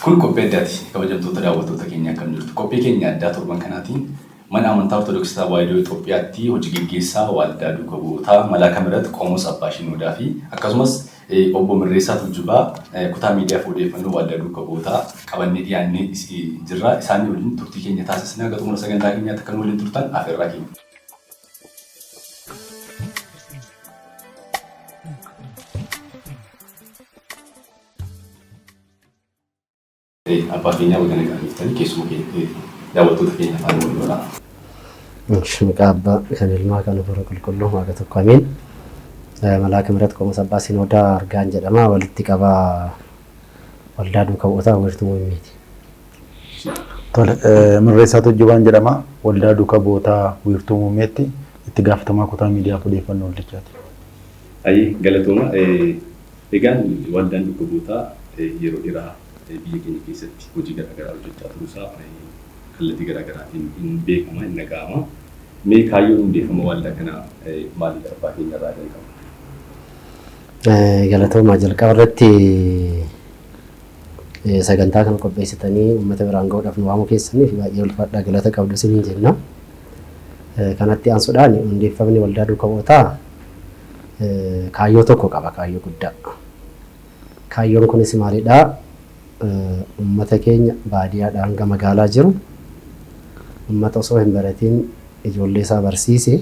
Kun qophii addaati. Kabajamtoota daawwattoota keenya akkam jirtu. Qophii keenya addaa torban kanaatiin mana amantaa Ortodoksii Tawaahidoo Itoophiyaatti hojii geggeessaa Waaldaa Duuka Bu'ootaa Malaa Kamirat Qomoos Abbaa Shinoodaa fi akkasumas Obbo Mirreessaa Tuujubaa, Kutaa Miidiyaaf Odeeffannoo Waaldaa Duuka Bu'ootaa qabannee dhiyaannee jirra. Isaanii waliin turtii keenya taasisna. Haga xumura sagantaa keenyaatti akka nu waliin turtan afeerraa keenya. Abbaa keenyaa baga nagaan dhuftanii keessuma keenya daawwattoota keenya afaan wal godhaa. Maqaa abbaa kan ilmaa kan hafuura qulqulluu waaqa tokko ameen. Malaaka mirat qomosa abbaa sinoodaa argaan jedhama walitti qabaa waldaa duuka bu'ootaa wiirtuu muummiiti. Tole mirreessaa Tujjubaan jedhama waldaa duuka bu'ootaa wiirtuu muummeetti itti gaafatamaa kutaa miidiyaaf odeeffannoo waldichaati. Ayi galatooma Egaan waldaan dhukkubootaa yeroo dheraa biyya keenya keessatti hojii garaa garaa hojjachaa turuu isaa kallatii garaa garaatiin hin beekama, hin dhaga'ama. Mee kaayyoon hundeeffama waaldaa kanaa maalidha abbaa keenya irraa jalqabna. Galatoomaa jalqaba irratti sagantaa kana qopheessitanii uummata biraan ga'uudhaaf nu waamuu keessaniif baay'ee ulfaadhaa galata qabdu isiniin jenna. Kanatti aansuudhaan hundeeffamni waldaa duuka bu'ootaa kaayyoo tokko qaba, kaayyoo guddaa. Kaayyoon kunis maalidha? Uummata keenya baadiyaadhaa hanga magaalaa jiru, uummata osoo hin baratiin ijoollee isaa barsiise,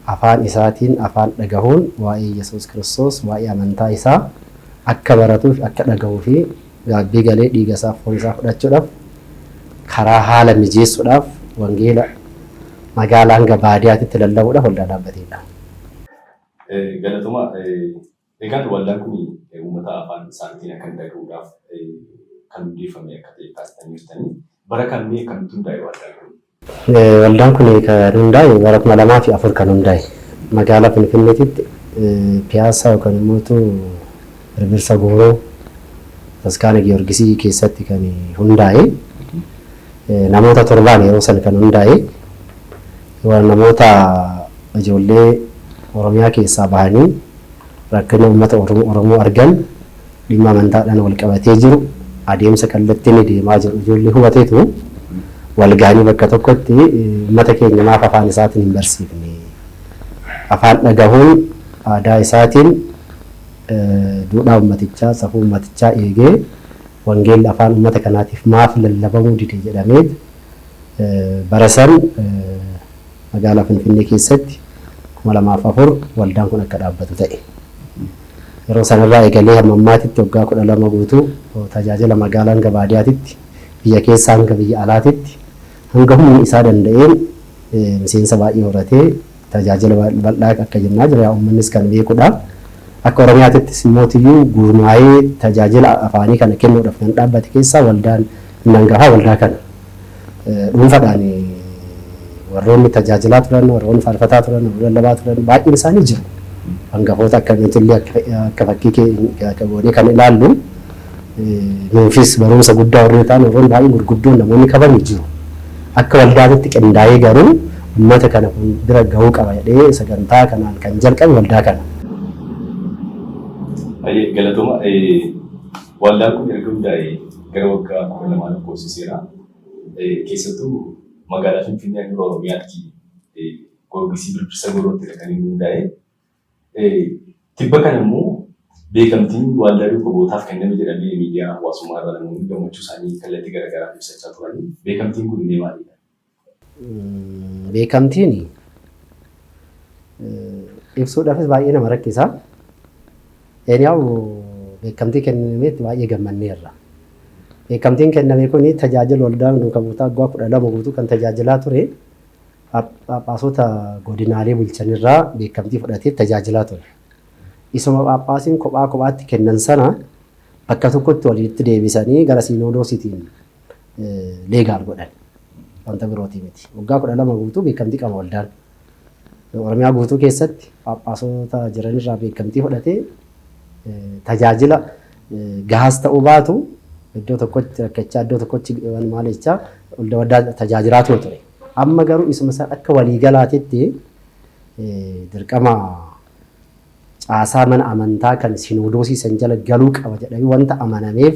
afaan isaatiin afaan dhagahuun waa'ee Yesuus Kiristoos, waa'ee amantaa isaa akka baratuuf, akka dhagahuu fi Gaabbii galee dhiiga isaa foon isaa fudhachuudhaaf karaa haala mijeessuudhaaf wangeela magaalaa hanga baadiyaatitti lallabuudhaaf waldaa dhaabbateedha. Galatoma egaan waldaan kun uummata afaan isaanitiin akkan dhaga'uudhaaf kan hundeeffame akka ta'e kaastanii jirtanii bara kam mee akkamitti hundaa'e waldaan kun? Waldaan kun kan hundaa'e bara 2004 kan hundaa'e magaalaa Finfinneetitti Piyaassaa yookaan immoo Birbirsa Gooroo Bataskaana Giyoorgisii keessatti kan hundaa'e namoota torbaan yeroo san kan hundaa'e namoota ijoollee Oromiyaa keessaa bahanii rakkina uummata Oromoo argan Dhimma amantaadhaan walqabatee jiru adeemsa kallattii inni deemaa jiru ijoollee hubateetu walgahanii bakka tokkotti uummata keenya maaf afaan isaatiin hin barsiifne? Afaan dhagahuun aadaa isaatiin duudhaa uummatichaa, safuu uummatichaa eegee wangeelli afaan uummata kanaatiif maaf lallabamuu dide jedhameet bara san Magaalaa Finfinnee keessatti 2004 waldaan kun akka dhaabbatu ta'e. Yeroo sanarraa eegalee hamma ammaatitti waggaa 12 guutuu tajaajila magaalaa hanga baadiyaatitti, biyya keessaa hanga biyya alaatitti hanga humni isaa danda'een miseensa baay'ee horatee tajaajila bal'aa akka jennaa jira. Yaa ummannis kan beekudha. Akka Oromiyaatittis immootiyyuu gurmaa'ee tajaajila afaanii kana kennuudhaaf kan dhaabbate keessaa waldaan inni hangafaa waldaa kana. dhuunfadhaan warroonni tajaajilaa turan, warroonni faarfataa turan, warroonni lallabaa turan baay'een isaanii jiru. Hangafoota akkamiitillee akka fakkii goonee kan ilaallu nuufis barumsa guddaa warri ta'an warroonni baay'een gurguddoon namoonni kabamu jiru. Akka waldaatitti qindaa'ee garuu uummata kana kun bira gahuu qaba jedhee sagantaa kanaan kan jalqabe waldaa kana. Baay'ee galatoma. Waldaan kun erga hundaa'ee gara waggaa 12 lakkoofsiseera. Keessattuu magaalaa Finfinnee handhuura Oromiyaatti Goorgisii Birbirsa Gooroottidha kan inni hundaa'e. Tibba kana immoo beekamtiin Waaldaa Duukobootaaf kenname jedhamee miidiyaa hawaasummaa irra namoonni gammachuu isaanii kallattii garaagaraan ibsachaa turani. Beekamtiin kun mee maalidha? Beekamtiin ibsuudhaafis baay'ee nama rakkisa. Eeniyaa'u beekamtii kennametti baay'ee gammanneerra. Beekamtiin kenname kun tajaajila waldaa duuka buutaa waggaa kudha lama guutuu kan tajaajilaa ture phaaphaasota godinaalee bulchanirraa beekamtii fudhatee tajaajilaa ture. Isuma phaaphaasiin kophaa kophaatti kennan sana bakka tokkotti walitti deebisanii gara siinodoositiin leegaal godhan. Wanta birootii miti. Waggaa kudha lama guutuu beekamtii qaba waldaan. Oromiyaa guutuu keessatti phaaphaasota jiranirraa beekamtii fudhatee tajaajila gahaas ta'uu baatu iddoo tokkotti rakkachaa iddoo tokkotti maal jechaa waldaa waldaa tajaajilaa ture ture. Amma garuu isuma isaa akka waliigalaatitti dirqama caasaa mana amantaa kan sinoodoosii san jala galuu qaba jedhamee wanta amanameef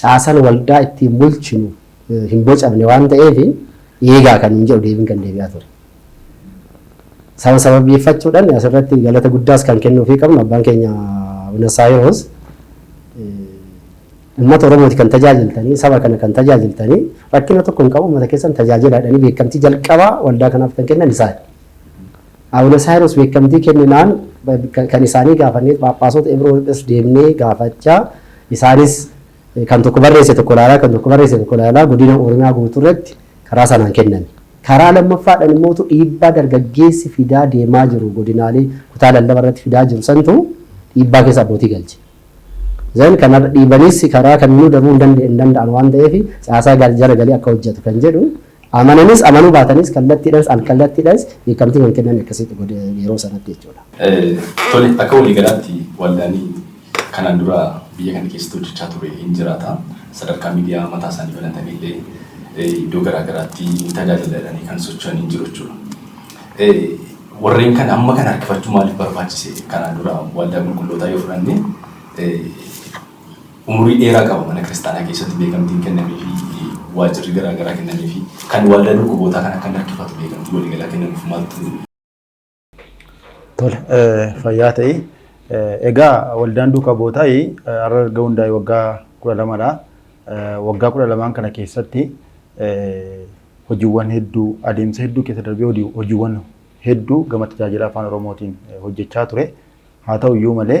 caasan waldaa ittiin bulchinu hin bocamne waan ta'eef eegaa kan nuun jedhu deebiin kan deebi'aa ture. Sana sababeeffachuudhaan asirratti galata guddaas kan kennuufii qabnu abbaan keenya Abuna Saayiroos uummata Oromooti kan tajaajiltanii saba kana kan tajaajiltanii rakkina tokko hin qabu uummata keessan tajaajilaadhanii beekamtii jalqabaa waldaa kanaaf kan kennan isaani. Abuna Saayiroos beekamtii kenninaan kan isaanii gaafanneet phaaphaasota Ibiroo irras deemnee gaafachaa isaanis kan tokko barreesse tokko ilaalaa kan tokko barreesse tokko ilaalaa godina Oromiyaa guutuu irratti karaa sanaan kenname. Karaa lammaffaadhan immootu dhiibbaa dargaggeessi fidaa deemaa jiru godinaalee kutaa lallaba irratti fidaa jiru santu dhiibbaa keessa abbootii galche. Then kana dhiibanis karaa kamiinuu darbuu hin danda'an waan ta'eef caasaa jala galee akka hojjetu kan jedhu Amananis amanuu baatanis kallattiidhaanis alkallattiidhaanis beekamtii kan kenname akkasitti godhe yeroo sanatti jechuudha. Tole, akka walii galaatti waldaalee kanaan dura biyya kana keessatti hojjechaa ture hin jiraata. Sadarkaa miidiyaa mataa isaanii banatanii illee iddoo garaa garaatti ni tajaajila jedhanii kan socho'an hin jiru jechuudha. Warreen kana amma kana harkifachuu maaliif barbaachise? Kanaan dura waldaa qulqullootaa yoo fudhanne Umurii dheeraa qaba mana kiristaanaa keessatti beekamtiin kennameefii fi waajjirri garaa garaa kennameefii kan waldaa dhukkubootaa kan akka hin harkifatu beekamtii waliigalaa kennamuuf maaltu Tole, fayyaa ta'i. Egaa waldaan duuka bootaa har'a erga hundaa'e waggaa kudha lamadha. Waggaa kudha lamaan kana keessatti hojiiwwan hedduu adeemsa hedduu keessa darbee hojii- hojiiwwan hedduu gama tajaajila afaan oromootiin hojjechaa ture. Haa ta'u iyyuu malee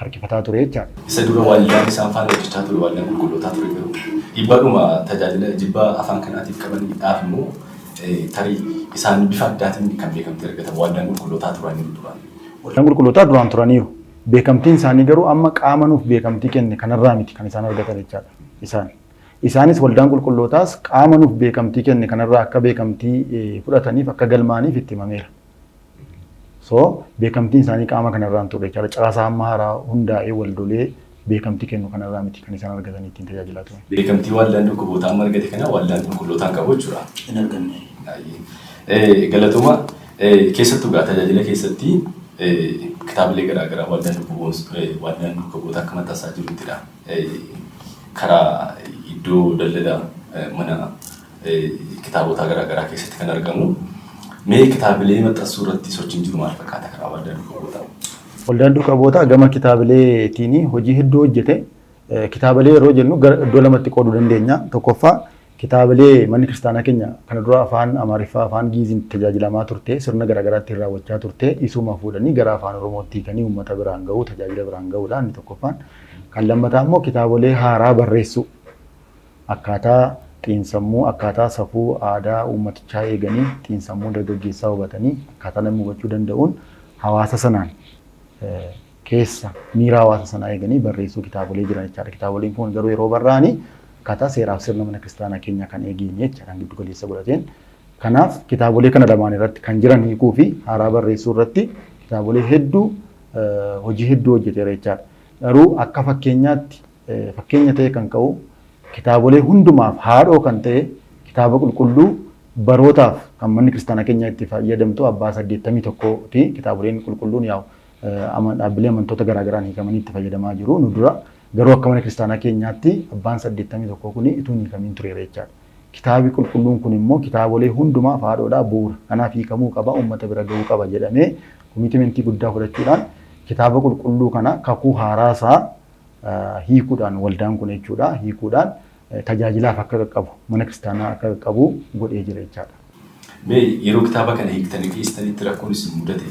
harkifataa ture jechaadha. Isa dura waldaan isaan faana hojjechaa ture waldaa qulqullootaa ture garuu dhiibbadhuma tajaajila jibba afaan kanaatiif qaban dhaaf immoo tarii isaan bifa addaatiin kan beekamtii argatan waldaan qulqullootaa turaniiru duraan. Waldaan qulqullootaa duraan turaniiru. Beekamtiin isaanii garuu amma qaama nuuf beekamtii kenne kanarraa miti kan isaan argatan jechaadha. Isaan. Isaanis waldaan qulqullootaas qaama nuuf beekamtii kenne kanarraa akka beekamtii fudhataniif akka galmaaniif itti himameera. So beekamtiin isaanii qaama kanarraa hin turre jechaadha. Caasaa hamma haaraa hundaa'ee waldolee beekamtii kennu kanarraa miti kan isaan argatan ittiin tajaajilaa turan. Beekamtii waldaan dhukkubootaa amma argate kana waldaan qulqullootaan qabu jechuudha. Hin arganne. Baay'ee. Galatuma keessattuu gaa tajaajila keessatti kitaabilee garaagaraa waldaan dhukkuboota akka maxxansaa jiruttidha. Karaa iddoo daldala mana kitaabotaa garaa garaa keessatti kan argamu. Mee kitaabilee maxxansuu irratti sochiin jiru maal fakkaata karaa waldaan duuka bu'ootaa? Waldaan duuka bu'ootaa gama kitaabileetiin hojii hedduu hojjete. Kitaabilee yeroo jennu iddoo lamatti qooduu dandeenya. Tokkoffaa kitaabilee manni kiristaanaa keenya kana dura afaan Amaariffaa, afaan Giiziin tajaajilamaa turte, sirna garaa garaatti raawwachaa turte, isuma fuudhanii gara afaan Oromootti hiikanii uummata biraan ga'uu, tajaajila biraan ga'uudha inni tokkoffaan. Kan lammataa immoo kitaabilee haaraa barreessuu. Akkaataa xiinsammuu, akkaataa safuu aadaa uummatichaa eeganii xiinsammuu dargaggeessaa hubatanii akkaataa namni hubachuu danda'uun hawaasa sanaan keessa miira hawaasa sanaa eeganii barreessuu kitaabolee jiran jechaadha. Kitaaboleen kun garuu yeroo barraa'anii akkaataa seeraaf sirna mana kiristaanaa keenyaa kan eegeen jecha kan giddu galeessa godhateen. Kanaaf kitaabolee kana lamaan irratti kan jiran hiikuu fi haaraa barreessuu irratti kitaabolee hedduu hojii hedduu hojjeteera jechaadha. Garuu akka fakkeenyaatti fakkeenya ta'ee kan ka'u kitaabolee hundumaaf haadhoo kan ta'e kitaaba qulqulluu barootaaf kan manni kiristaanaa keenya itti fayyadamtu abbaa saddeettamii tokkooti. Kitaaboleen qulqulluun yaa'u dhaabbilee amantoota garaagaraan hiikamanii itti fayyadamaa jiru. Nu dura garuu akka mana kiristaanaa keenyaatti abbaan saddeettamii tokkoo kun utuu hin hiikamiin tureera jechaadha. Kitaabi qulqulluun kun immoo kitaabolee hundumaaf haadhoodhaa bu'uura. Kanaaf hiikamuu qaba, uummata bira ga'uu qaba jedhamee komiitimentii guddaa fudhachuudhaan kitaaba qulqulluu kana kakuu haaraa isaa hiikuudhaan waldaan kun jechuudha hiikuudhaan tajaajilaaf akka qaqqabu mana kiristaanaa akka qaqqabu godhee jira jechaadha. Mee yeroo kitaaba kana hiiktanii dhiyeessitanitti rakkoon isin mudate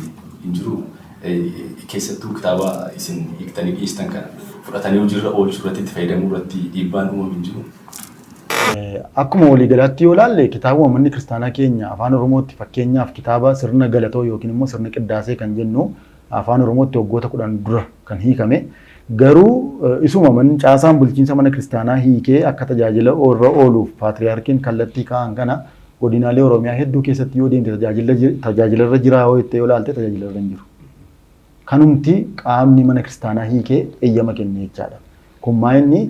hin jiru? Keessattuu kitaaba isin hiiktanii dhiyeessitan kana fudhatanii hojiirra oolchuu irratti itti fayyadamuu irratti dhiibbaan uumame hin jiru? Akkuma waliigalaatti yoo ilaalle kitaabuma manni kiristaanaa keenya afaan Oromootti fakkeenyaaf kitaaba sirna galatoo yookiin immoo sirna qiddaasee kan jennu Afaan Oromootti waggoota kudhan dura kan hiikame garuu isuma man caasaan bulchiinsa mana kiristaanaa hiikee akka tajaajila irra ooluuf paatriyaarkiin kallattii kaa'an kana godinaalee Oromiyaa hedduu keessatti yoo deemte tajaajila ji- tajaajila irra jiraa yoo jettee yoo ilaalte tajaajila irra hin jiru. Kanumti qaamni mana kiristaanaa hiikee eeyyama kenne jechaadha. Kun maa inni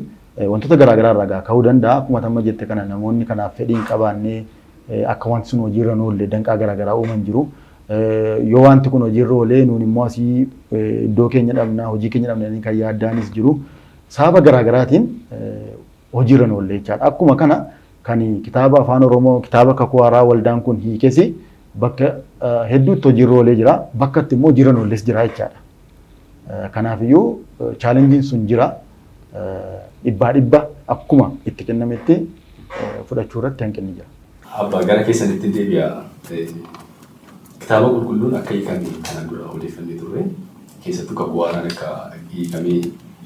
wantoota garaa garaa irraa ka'uu danda'a. Akkuma amma jette kana namoonni kanaaf fedhii hin qabaanne akka wanti sun hojiirra hin oolle danqaa garaa garaa uuman jiru. Yoo wanti kun hojiirra oolee nuun immoo asii iddoo keenya dhabna hojii keenya dhabna jedhanii kan yaaddaanis jiru. Sababa garaa garaatiin hojiirra hin oolle jechaadha. Akkuma kana kan kitaaba afaan Oromoo kitaaba kakuu haaraa waldaan kun hiikesi bakka hedduutti hojiirra oolee jira. Bakkatti immoo hojiirra hin oolles jira jechaadha. Kanaafiyyuu chaalenjiin sun jira. Dhibbaa dhibba akkuma itti kennametti fudhachuu irratti hanqinni jira. Abba gara keessanitti deebi'a. Kitaaba qulqulluun akka hiikame kanaan dura odeeffannee turre keessattuu kakuu haaraan akka hiikamee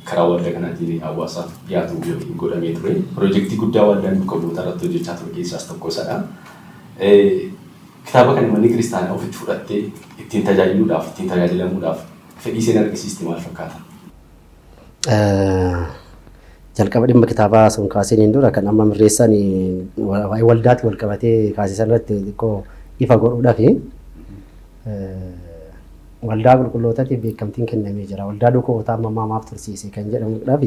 karaa waldaa kanaatiin hawaasaaf dhiyaatu yookiin godhamee ture. Pirojektii guddaa waldaan duuka bu'oota irratti hojjechaa ture keessaas tokko isadha. Kitaaba kana manni kiristaanaa ofitti fudhattee ittiin tajaajiluudhaaf, ittiin tajaajilamuudhaaf fedhii isheen argisiiste maal fakkaata? Jalqaba dhimma kitaabaa sun kaasiniin dura kan amma mirreessan waa'ee waldaatti wal qabatee kaasisan irratti xiqqoo ifa godhuudhaaf waldaa qulqullootaatiif beekamtiin kennamee jira. Waldaa dukootaa amma ammaa maaf tursiise kan jedhamuudhaaf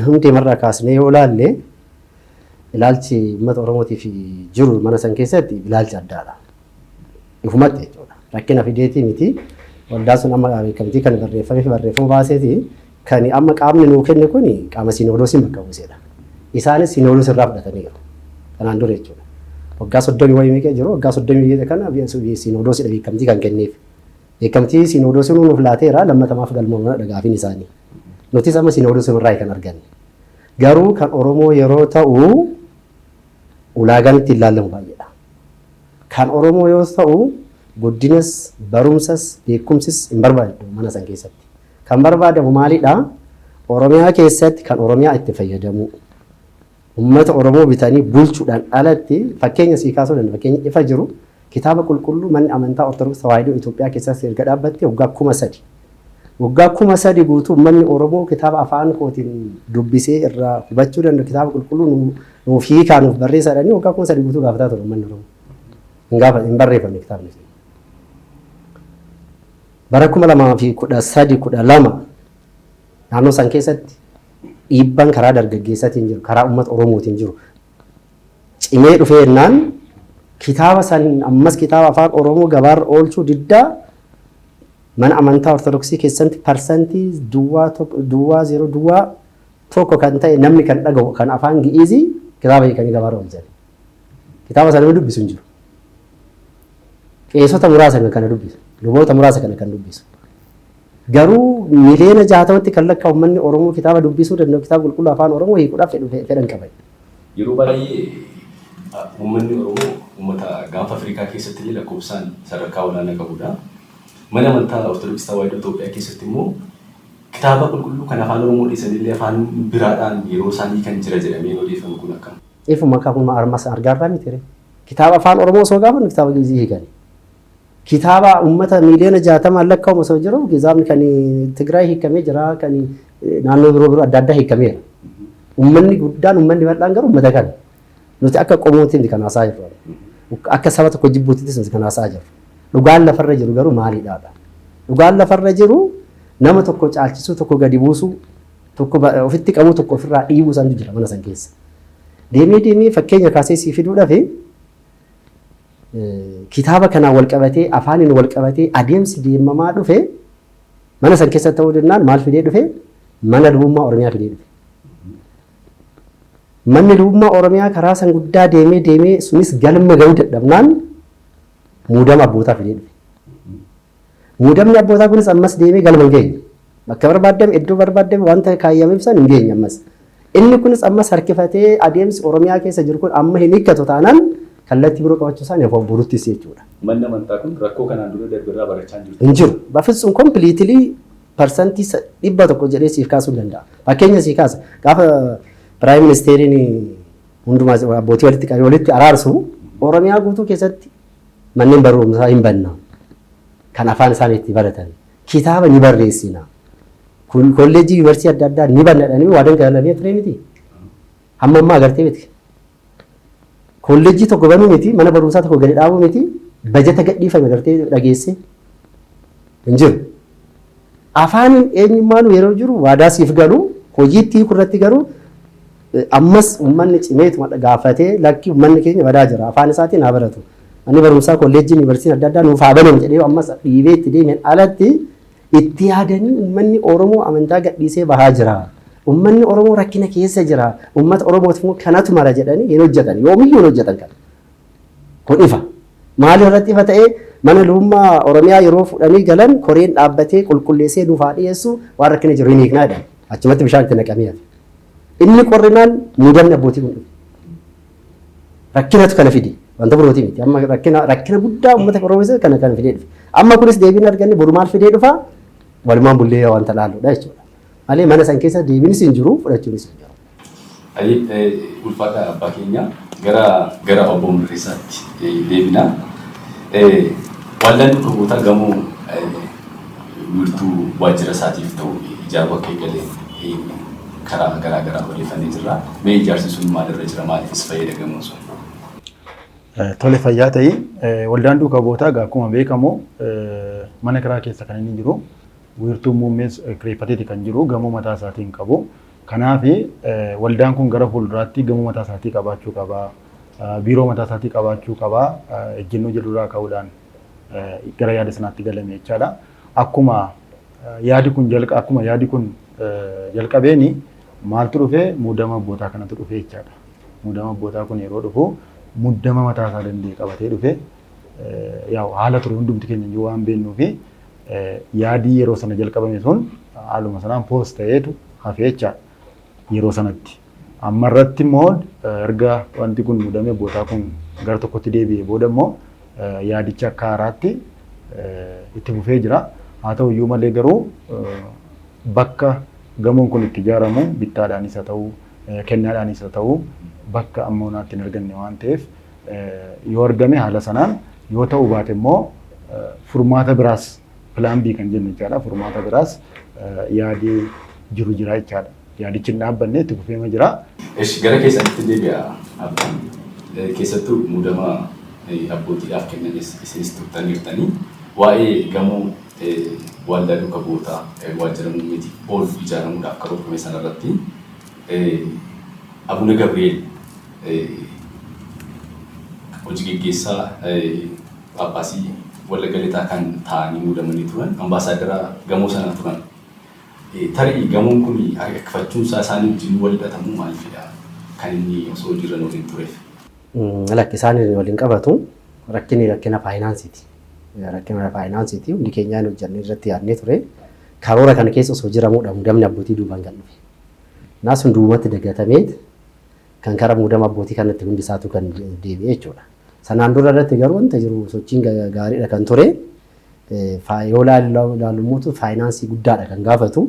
hundeemarraa kaasnee yoo ilaalle ilaalchi uummata Oromootiif jiru mana san keessatti ilaalcha addaadha. Ifumatti jechuudha. Rakkina fideetii miti. Waldaan sun amma beekamtii kan barreeffamee fi barreeffama baaseeti. Kan amma qaamni nuu kenne kun qaama siinodoosiin bakka buusedha. Isaanis siinodoos irraa fudhataniiru. Kanaan dura jechuudha. Waggaa soddomii wayii meeqa jiru waggaa soddomii jeeqa kana siinodoosiidha beekamtii kan kenneef. Beekamtii siinodoosiin nuuf laateera lammatamaaf galmoomana dhagaafin isaanii. Nutis amma siinodoosii irraa kan arganne. Garuu kan Oromoo yeroo ta'u ulaagaan ittiin laallamu baay'eedha. Kan Oromoo yoos ta'u guddinas, barumsas, beekumsis hin barbaaddu mana san keessatti. Kan barbaadamu maalidha? Oromiyaa keessatti kan Oromiyaa itti fayyadamuu. Uummata Oromoo bitanii bulchuudhaan alatti fakkeenya sii kaasuu danda'a. Fakkeenya ifa jiru Kitaaba Qulqulluu Manni Amantaa Ortodoksii Tawaahidoo Itoophiyaa keessaas erga dhaabbattee waggaa 3000. Waggaa 3000 guutuu ummanni Oromoo kitaaba afaan kootiin dubbisee irraa hubachuu danda'u kitaaba qulqulluu nu, nuuf hiikaa nuuf barreessaa jedhanii waggaa 3000 guutuu gaafataa ture ummanni Oromoo. Hin gaafa hin barreeffamne kitaabni sun. Bara 2013 12 naannoo san keessatti dhiibbaan karaa dargaggeessatiin jiru, karaa uummata Oromootiin jiru cimee dhufee jennaan kitaaba san ammas kitaaba afaan Oromoo gabaarra oolchuu diddaa mana amantaa Ortodoksii keessatti parsantii duwwaa tokko duwwaa zeeroo duwwaa tokko kan ta'e namni kan dhagahu kan afaan Gi'iizii kitaaba hiikanii gabaarra oolchan. Kitaaba sana nama dubbisu hin jiru. Qeesota muraasa kan kana dubbisu, luboota muraasa kana kan dubbisu. Garuu miliyoona 60tti kan lakkaa'u uummanni Oromoo kitaaba dubbisuu danda'u kitaaba qulqulluu Afaan Oromoo hiikuudhaaf fedhu fedha hin qaban. Yeroo baay'ee uummanni Oromoo uummata gaanfa Afrikaa keessatti illee lakkoofsaan sadarkaa olaanaa qabu dha. Mana amantaa Ortodoksii Tawaahidoo Itoophiyaa keessatti immoo kitaaba qulqulluu kan Afaan Oromoo dhiisanii illee afaan biraadhaan yeroo isaan hiikan jira jedhamee odeeffamu kun akkam? Ifuma kakuma armas argaarraa miti ree? Kitaaba Afaan Oromoo osoo gaafannu kitaaba Gi'izii hiikani. Kitaaba uummata miiliyoona jaatamaan lakkaa'amu osoo jiru kitaabni kan Tigraay hiikamee jira kan naannoo biroo biroo adda addaa hiikameera. Uummanni guddaan uummanni bal'aan garuu uummata kana. Nuti akka qomootiin kan haasaa jirru. Akka saba tokko jibbuutittis nuti kan haasaa jirru. Dhugaan lafarra jiru garuu maalidhaa dha? Dhugaan lafarra jiru nama tokko caalchisuu tokko gadi buusuu tokko ofitti qabuu tokko ofirraa dhiibuu santu jira mana san keessa. Deemee deemee fakkeenya kaasee sii fiduudhaaf kitaaba kanaan wal qabatee afaaniin wal qabatee adeemsi deemamaa dhufe mana san keessa ta'uu jennaan maal fidee dhufe mana lubummaa Oromiyaa fidee dhufe. Manni lubummaa Oromiyaa karaa san guddaa deemee deemee sunis galma ga'uu dadhabnaan muudama abbootaa fidee dhufe. Muudamni abbootaa kunis ammas deemee galma hin geenye. Bakka barbaaddame, iddoo barbaaddame wanta kaayyameef san hin geenye ammas. Inni kunis ammas harkifatee adeemsi Oromiyaa keessa jiru kun amma hin hiikkatu taanaan kallattii biroo qabachuu isaan of buruttis jechuudha. Manni amantaa kun rakkoo kanaan dura darbe irraa barachaa hin jirtu. Hin jiru. Bafitsum completely parsantii sa- dhibba tokko jedhee siif kaasuu hin danda'a. Fakkeenya sii kaasa. Gaafa Piraayim Ministeeriin hundumaa abbootii walitti qabee walitti araarsu Oromiyaa guutuu keessatti Manneen barumsaa hin banna. Kan afaan isaanii itti baratan. Kitaaba ni barreessina. Kun kolleejjii yuunivarsiitii adda addaa ni banna jedhanii waadan galamee ture miti. Hamma ammaa agartee miti. Kolleejjii tokko banuu miti, mana barumsaa tokko gadi dhaabuu miti, bajata gadhiifame agartee dhageessee hin jiru. Afaaniin eenyummaanuu yeroo jiru waadaa siif galu hojiitti hiiku irratti garuu Ammas ummanni cimeetuma gaafatee lakki ummanni keenya badaa jira afaan isaatiin haa baratu manni barumsaa kolleejjiin yuunivarsiitiin adda addaa nuuf haa banamu jedhee yoo ammas dhiibee itti deemeen alatti itti yaadanii ummanni Oromoo amantaa gadhiisee bahaa jira. Ummanni Oromoo rakkina keessa jira. Ummata Oromootiif immoo kanatu mala jedhanii hin hojjetan. Yoomiyyuu hin hojjetan kana. Kun ifa. Maal irratti ifa ta'ee mana luummaa Oromiyaa yeroo fudhanii galan koreen dhaabbatee qulqulleessee nuuf haa dhiyeessu waan rakkina jiru hin hiiknaa jedhan. Achumatti bishaan itti naqamee hafe. Inni qorrinaan muudamni abbootii kun dhufe. Rakkinatu kana fide. Wanta birootii miti. Amma rakkina rakkina guddaa uummata Oromoo keessatti kana kana fidee dhufe. Amma kunis deebiin arganne boru maal fidee dhufa? Walumaan bullee wanta laaludha jechuudha. Malee mana san keessa deebiinis hin jiru fudhachuunis hin jiru. Hayyee ulfaadhaa abbaa keenya gara gara obbo Mirreessaatti deebina. Waldaan bakka bu'ootaa gamoo wiirtuu waajjira isaatiif ta'u ijaaruu akka eegale karaa garaa garaa odeeffannee jirra. Mee ijaarsi sun maalirra jira? Maaliifis fayyada gamoon sun? Tole fayyaa ta'i. Waldaan duuka bu'ootaa egaa akkuma beekamu mana kiraa keessa kan inni jiru. Wiirtuu muummees kireeffateeti kan jiru. Gamoo mataa isaatii hin qabu. Kanaaf, waldaan kun gara fuulduraatti gamoo mataa isaatii qabaachuu qaba, biiroo mataa isaatii qabaachuu qaba ejjennoo jedhu irraa ka'uudhaan gara yaada sanaatti galame jechaa dha. Akkuma yaadi kun jalqa akkuma yaadi kun jalqabeen maaltu dhufe muudama abbootaa kanatu dhufe jechaa dha. Muudama abbootaa kun yeroo dhufu muddama mataa isaa danda'e qabatee dhufe. Yaa haala ture hundumti keenya iyyuu waan beeknuu fi yaadii yeroo sana jalqabame sun haaluma sanaan poos ta'eetu hafe jechaadha. Yeroo sanatti. Amma irratti immoo erga wanti kun mudamee bootaa kun gara tokkotti deebi'ee booda immoo yaadichi akka haaraatti itti fufee jira. Haa ta'u iyyuu malee garuu bakka gamoon kun itti ijaaramu bittaadhaanis haa ta'u kennaadhaanis haa ta'u bakka amma onaatti hin arganne waan ta'eef yoo argame haala sanaan Yoo ta'uu baate immoo furmaata biraas plan B kan jennu jechaadha. Furmaata biraas yaadi jiru jira jechaadha. Yaadichi hin dhaabbanne itti fufeema jira. Esh gara keessanitti deebi'a abbaan keessattuu muudama abbootiidhaaf kennames isinis tuqxaniirtanii waa'ee gamoo Waaldaa Duuka Bu'ootaa Waajjira Muummeetiif oolu ijaaramuudhaaf karoorfame sanarratti Abuna Gabri'eel hojii geggeessaa Phaaphaasii Wallagga Lixaa kan taa'anii muudamanii turan ambaasaaddara gamoo sanaa turan. Tarii gamoon kun harkifachuun isaa isaanii wajjin wal hidhatamuu maaliifidha kan inni osoo hojiirra hin oolin tureef? Lakki isaan wal hin qabatu. Rakkinni rakkina faayinaansiiti. Rakkina faayinaansiiti. Hundi keenyaa hin hojjannee irratti yaadnee ture. Karoora kana keessa osoo jiramuudha muudamni abbootii duubaan kan dhufe. Naa sun duubatti dagatameet kan kara muudama abbootii kanatti hundi isaatu kan deebi'e jechuudha. Sanaan dura irratti garuu wanta jiru sochiin gaariidha kan ture. Yoo ilaalu mootu faayinaansii guddaadha kan gaafatu.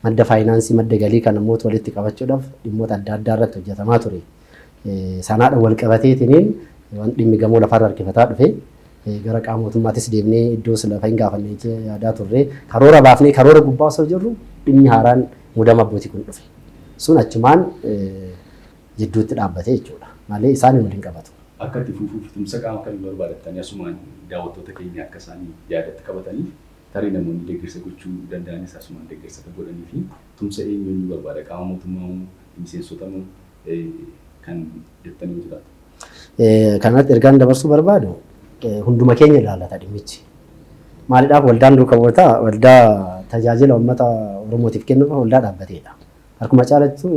Madda faayinaansii madda galii kana mootu walitti qabachuudhaaf dhimmoota adda addaa irratti hojjetamaa ture. Sanaadha wal qabateetiniin waan dhimmi gamoo lafarra harkifataa dhufe. Gara qaama mootummaatis deemnee iddoo sila fahin gaafannee yaadaa turre. Karoora baafnee karoora gubbaa osoo jirru dhimmi haaraan mudama abbootii kun dhufe. Sun achumaan jidduutti dhaabbate jechuudha. Malee isaanii waliin qabatu. Akka itti fufuuf tumsa qaama kamii barbaadattani asumaan daawwattoota keenya akka isaan yaadatti qabataniif tarii namoonni deggersa gochuu danda'anis asumaan deggersa akka godhaniifi tumsa eenyu eenyuu barbaada qaama mootummaa moo miseensota moo kan jettanii jiraatu. Kanarratti ergaan dabarsuu barbaadu hunduma keenya ilaallata dhimmichi. Maalidhaaf waldaan duuka bu'ootaa waldaa tajaajila uummata Oromootiif kennuuf waldaa dhaabbateedha. Harkuma caalattu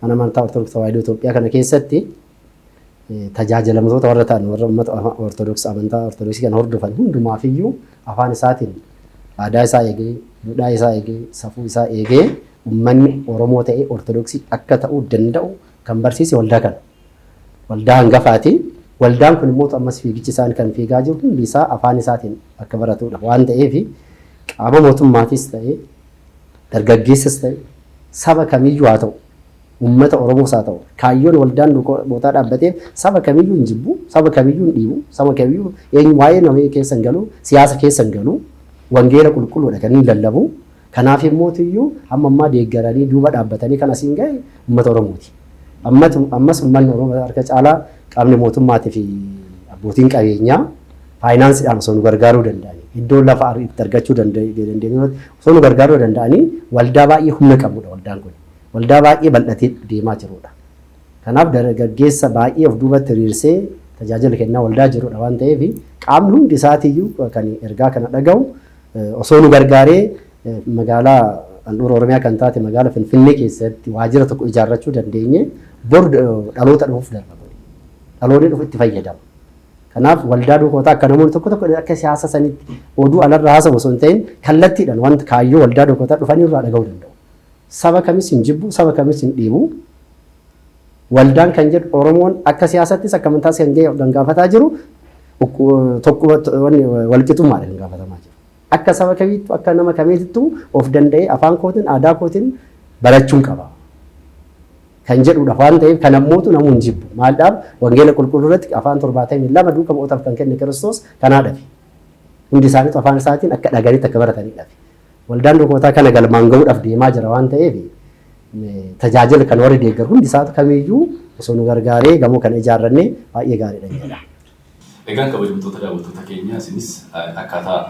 mana amantaa Ortodoksii Tawaahidoo Itoophiyaa kana keessatti tajaajilamtoota warra ta'an warra uummata Ortodoksii amantaa Ortodoksii kana hordofan hundumaaf iyyuu afaan isaatiin aadaa isaa eegee, duudhaa isaa eegee, safuu isaa eegee uummanni Oromoo ta'ee Ortodoksii akka ta'uu danda'u Kan barsiise waldaa kana. Waldaa hangafaati. Waldaan kun immoo ammas fiigichi isaan kan fiigaa jiru hundi isaa afaan isaatiin akka baratudha waan ta'eef qaama mootummaatis ta'ee dargaggeessas ta'e saba kamiyyuu haa ta'u uummata Oromoos haa ta'u kaayyoon waldaan duukootaa dhaabbatee saba kamiyyuu hin jibbu saba kamiyyuu hin dhiibu saba kamiyyuu eenyu waa'ee nama keessa hin galu siyaasa keessa hin galu wangeela qulqulluudha kan inni lallabu. Kanaaf yommootuyyuu hamma ammaa deeggaranii duuba dhaabbatanii kan asiin gahe ummata Oromooti. Ammas ummanni Oromoo harka caalaa qaamni mootummaatii fi abbootiin qabeenyaa faayinaansiidhaan osoo nu gargaaruu danda'anii iddoo lafa itti argachuu dandeenyu osoo nu gargaaruu danda'anii waldaa baay'ee humna qabudha waldaan kun. Waldaa baay'ee bal'atee deemaa jirudha. Kanaaf dargaggeessa baay'ee of duubatti hiriirsee tajaajila kennaa waldaa jirudha waan ta'eef qaamni hundi isaatiiyyuu kan ergaa kana dhagahu Osoo nu gargaaree magaalaa handhuura Oromiyaa kan taate magaala Finfinnee keessatti waajjira tokko ijaarrachuu dandeenye bor dhaloota dhufuuf darba godhe. Dhaloonni dhufu itti fayyadama. Kanaaf waldaa duukootaa akka namoonni tokko tokko akka siyaasa sanitti oduu alarra haasawu osoo hin ta'in kallattiidhaan wanta kaayyoo waldaa duukootaa dhufanii irraa dhaga'uu danda'u. Saba kamis hin jibbu, saba kamis hin dhiibu. Waldaan kan jedhu Oromoon akka siyaasattis akka amantaas kan ga'e kan gaafataa jiru walqixummaadha kan gaafatamaa jiru. Akka saba kamiittu akka nama kamiittu of danda'ee afaan kootiin aadaa kootiin barachuun qaba. Kan jedhudha waan ta'eef kan ammootu namuu hin jibbu. Maaldhaaf wangeela qulqulluu irratti afaan torbaatamii lama duuka bu'ootaaf kan kenne Kiristoos kanaadhafi. Hundi isaaniitu afaan isaatiin akka dhaga'anitti akka baratanidhafi. Waldaan lukootaa kana galmaan gahuudhaaf deemaa jira waan ta'eef tajaajila kan warri deeggar hundi isaa kamiyyuu osoo nu gargaaree gamoo kana ijaarrannee baay'ee gaariidha jedha. Egaa kabajamtoota daawwattoota keenya isinis akkaataa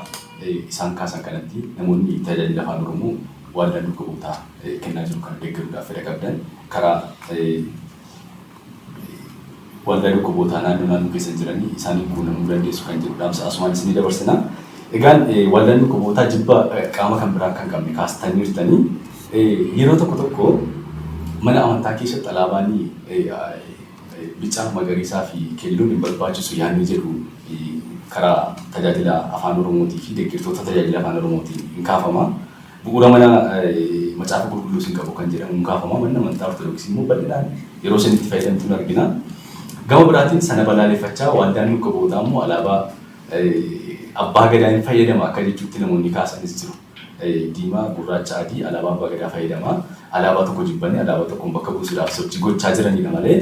isaan kaasan kanatti namoonni tajaajila afaan Oromoo waldaan duuka buutaa kennaa jiru kana deeggaruudhaaf fedha qabdan karaa Waldaa Dhukkubootaa naannoo naannoo keessan jiranii isaaniin quunnamuu dandeessu kan jedhu dhaamsa asumaan isinii dabarsina. Egaan waldaan dhukkubootaa jibba qaama kan biraa kan qabne kaastaniirtanii yeroo tokko tokko mana amantaa keessatti alaabaan bicaa magariisaa fi keelloon hin barbaachisu yaadni jedhu karaa tajaajila afaan oromootii fi deeggartoota tajaajila afaan oromootiin hin kaafama. Bu'uura mana Macaafa Qulqulluus hin qabu kan jedhamuun kaafama. Manni amantaa Ortodoksii immoo bal'inaan yeroo isheen itti fayyadamtu ni argina. Gama biraatiin sana balaaleffachaa Waldaan Luqqabootaa immoo alaabaa Abbaa Gadaa hin fayyadama akka jechuutti namoonni kaasanis jiru. Diimaa, gurraacha, adii alaabaa Abbaa Gadaa fayyadama. Alaabaa tokko jibbanii alaabaa tokkoon bakka buusuudhaaf sochii gochaa jiranidha malee